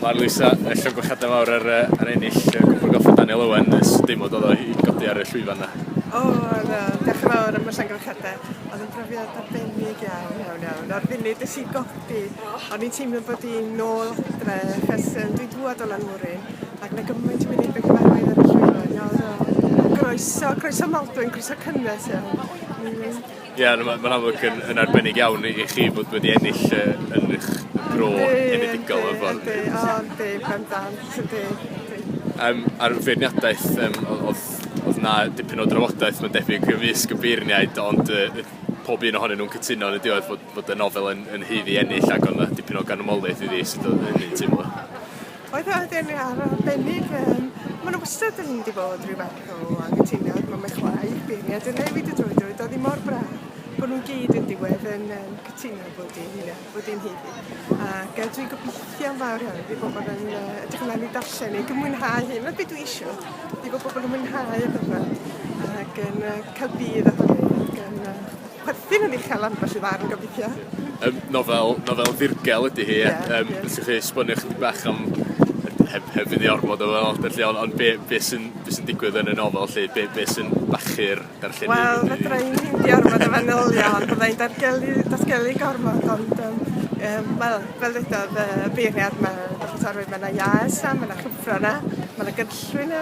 Mae'r Lisa, y Llwyn Gwachaden Fawr ar, yy, ar ennill y Cwpwr Golff o Daniel Owen ers dim ond oedd o i godi ar y llwyfan 'na. O, na, diolch yn fawr am y llongyfarchiadau. Oedd yn brofiad arbennig iawn, iawn, iawn. O'r funud es i godi, o'n i'n teimlo bod i'n nôl adre, achos um, dwi'n dŵad o Lanmwrin, ac mae gymaint o wynebau cyfarwydd ar y llwyfan. Iawn, iawn. Croeso, croeso Maldwyn, croeso cynnes iawn. Ie, na, ma- ma'n amlwg yn yn arbennig iawn i i chi fod wedi ennill yy yn 'ych bro enedigol mewn ffordd. Yndi yndi o yndi bendant yndi yndi. Yym a'r feirniadaeth yym o- odd odd 'na dipyn o drafodaeth ma'n debyg ymysg y beirniaid ond yy yy pob un ohonyn nw'n cytuno yn y diwedd bod bod y nofel yn yn haeddu ennill ag o' 'na dipyn o ganmoliaeth iddi sut odd hynny'n teimlo? Oedd o wedi enwi ar arbennig yym ma' 'na wastad yn mynd i fod rhyw fath o anghytuniad ma' mae chwaer beirniad yn newid y drwy drwy doedd hi mor braf bod nhw'n gyd yn diwedd yn yym cytuno bod hi'n hynna bod hi'n hynny ac yy dwi'n gobeithio'n fawr iawn fi bod bod yn yy ydych chi'n mynd i darllen neu gymwynhau hyn na beth dwi eisiau fi bod pobl yn mwynhau y gyfan ac yn yy cael budd ohoni ac yn yy Perthyn yn uchel am felly ddarn gobeithio. Yym nofel nofel ddirgel ydi hi ie yym os ewch chi esbonio chydig bach am heb heb fyn' i ormod o ddyfodol lly on' on' be' be' sy'n be' sy'n digwydd yn y nofel lly be' be' sy'n bachu'r darllenydd... Wel fedrai 'im mynd i ormod o fanylion fyddai'n dargellu datgelu gormod ond yym yym wel fel ddedodd yy beirniad ma' ma' 'na iâs a ma' 'na chyfro 'na ma' 'na gynllwyn 'na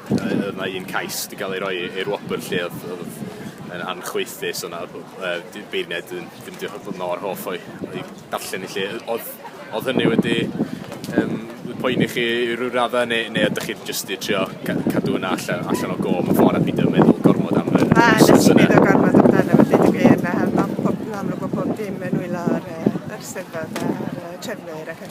Yy o'dd 'na un cais 'di ga'l ei roi i'r wobr lle o'dd o'dd yn anchwaethus o' 'na yy dy- beirniaid yn dim diolch o fod mor hoff o'i o'i darllen 'i lle yy o'dd o'dd hynny wedi yym wedi poeni chi i ryw radde ne' ne' ydych chi jyst 'di trio ca- cadw wnna alle- allan o gô mewn ffor a pidio meddwl gormod am yr Na nes i neud o gormod amdano fe deud y gwir na ma' pob yn amlwg bo' pob dim yn nwylo ar yy yr Steddfod a'r yy trefnwyr ac yn y bla'n.